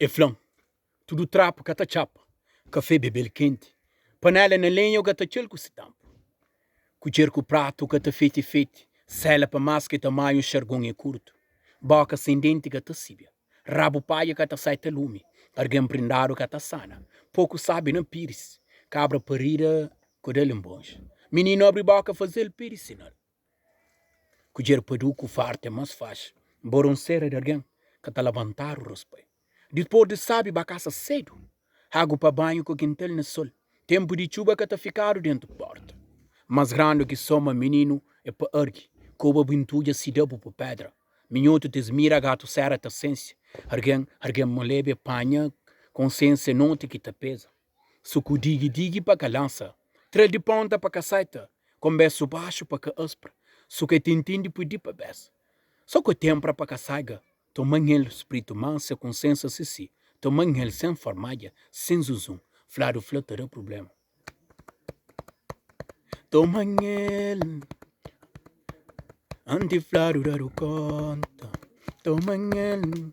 E fla-m, Tudu trapu ka ta txapa, kafé bebe-l kenti, panela na lenha o ga ta txe-l ku si tampu, kudjer ku pratu ka ta fete fete, sela pa más ke tamanhu xargon e kurtu, boka sen denti ka ta sibia, rabu paia ka ta saita lumi, argen prindadu ka ta sana, poku sabi na piris, kabra parida kodel inbonxa, mininu abri boka faze-l pedi sinal. Kudjer pa du ku farta é más faxi. Nbóra un sera di algen ka ta labantadu raspai. Dipôs di sábi ba kasa sédu, agu pa banhu ku kintal na sol. Ténpu di txuba ka ta fikadu déntu pórta. Más grandu ki soma mininu é pa ergi koba bu intudja sidabu bu pédra. Minhotu ta zmira gatu sera ta sensi algen. Algen maleba é panha konsiénsia noti ki ta peza. Su ku digi-digi pa ka lansa. Tra-l di ponta pa ka saita. Konbésu baxu pa ka aspra. Su ke tintin di pudi pa bes. So ku tenpra pa ka saiga. Toman-el spritu mansa ku nsensa sisi. Toman-el sen formadja, sen zunzun. Fladu fla ta da prubléma. Toman-el anti fladu dadu konta. Toman-el.